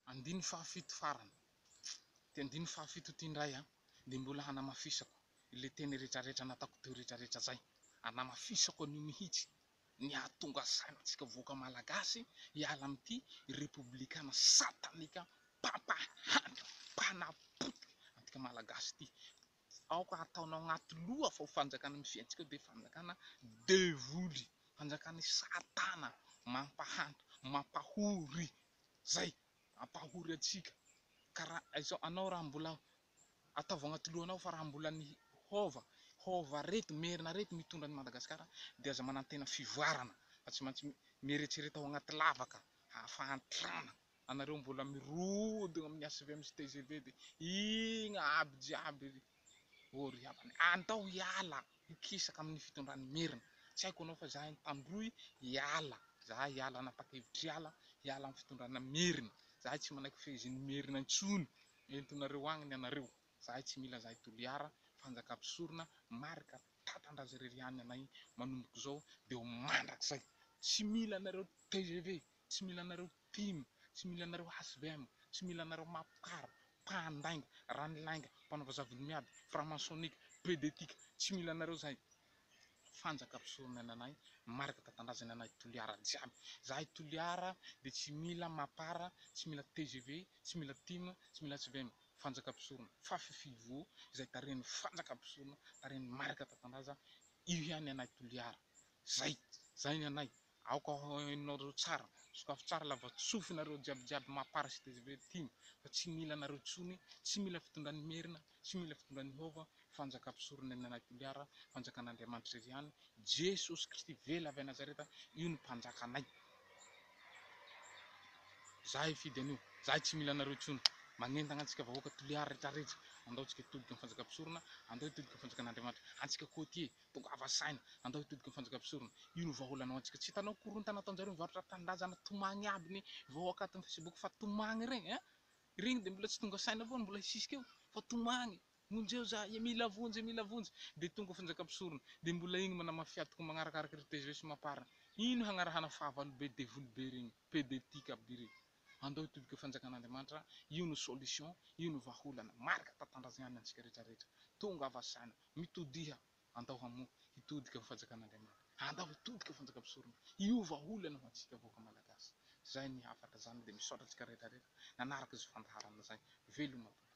Andininy fahafito farany, ity andininy fahafito ity indray dia mbola hanamafisako ilay teny rehetrarehetra nataoko teo rehetrarehetra izay, hanamafisako an'io mihitsy ny hahatonga saina antsika vahoaka Malagasy hiala amin'ity Repoblikana satanika mpampahantra, mpanapotika antsika Malagasy ity. Aoka hataonao anaty loha fa io fanjakana mifidiantsika io dia fanjakana devoly, fanjakana satana, mampahantra, mampahory Zay ampahory antsika ka ra izao anao raha mbola ataovy agnaty lohanao fa raha mbola ny hova hova reto merina reto mitondra an'i Madagasikara dia aza manantena fivoarana fa tsy maintsy mieretsereta ao agnaty lavaka hahafahantrana anareo mbola mirodogna amin'ny HVM sy tgv dia igna aby jiaby Oh ry havana eh, andao hiala hikisaka amin'ny fitondran'i Merina, tsy haiko ianao fa izahay Tandroy hiala, izahay hiala nanapa-kevitra hiala, hiala amin'ny fitondrana Merina, izahay tsy manaiky fehezin'i Merina intsony, entinareo agny ny anareo, izahay tsy mila izahay Toliara, fanjakam-pisorona, marika tatan-drazariry ihany anay manomboka izao dia ho mandrakizay, tsy mila anareo tgv, tsy mila anareo Tim, tsy mila anareo HVM, tsy mila anareo mapkar, mpandainga, ranilainga, mpanao vazaha vody miady, franc-maçonnique, pedetique, tsy mila anareo zahay. Fanjaka mpisorona ny anay, marika tatandrazany anay Toliara jiaby. Zahay Toliara dia tsy mila mapar, tsy mila tgv, tsy mila tim, tsy mila HVM, fanjaka mpisorona, Fafifilvo, izay tarehin'ny fanjaka mpisorona, tarehin'ny marika tatandraza, io ihany ny anay Toliara. Zay, zay ny anay. Aoka ho hainareo tsara. Sokafy tsara lavatsofy nareo jiaby jiaby maha parasite zay ve tim fa tsy mila anareo tsony tsy mila fitondran'i merina tsy mila fitondran'i hova fanjaka mpisorona ny nanahy toliara fanjakan'andriamanitra irery ihany jesosy kristy vely avy anazareta io ny mpanjakanay za hifidy an'io zahay tsy mila anareo tsony magnentagna antsika vahoaka toliara retraretra andaontsika hitodika ny fanjaka mpisorona andao hitodika ny fanjakan'andriamanitra antsika kotie Tongava saina, andao hitodiky ny fanjakam-pisorona. Io no vahaolana ho antsika. Tsy hitanao korontana ataonjareo mivarotra tanindrazana tomagny aby ny vahoaka ato amin'ny facebook fa tomagny regny a! Regny dia mbola tsy tonga saina foana mbola hisisika eo fa tomagny! Vonjeo za e! Mila vonjy e! Mila vonjy! Dia tonga fanjakam-pisorona dia mbola igny manamafia tokoa magnarakaraka ry tgv sy mapar. Ino hagnarahana fahavalo be devoly be regny. Pede tika biri. Andao hitodika ho fanjakan'Andriamanitra, io no solution, io no vahaolana marika tantandrazianiny antsika rehetra rehetra. Tongava saina, mitodiha, andao hamoha, hitodika ho fanjakan'Andriamanitra. Andao hitodika ho fanjakam-pisorona, io vahaolana ho antsika vahoaka Malagasy. Zay ny hafatra, zany dia misaotra antsika rehetra rehetra nanaraka izao fandaharana zay. Veloma tompoko.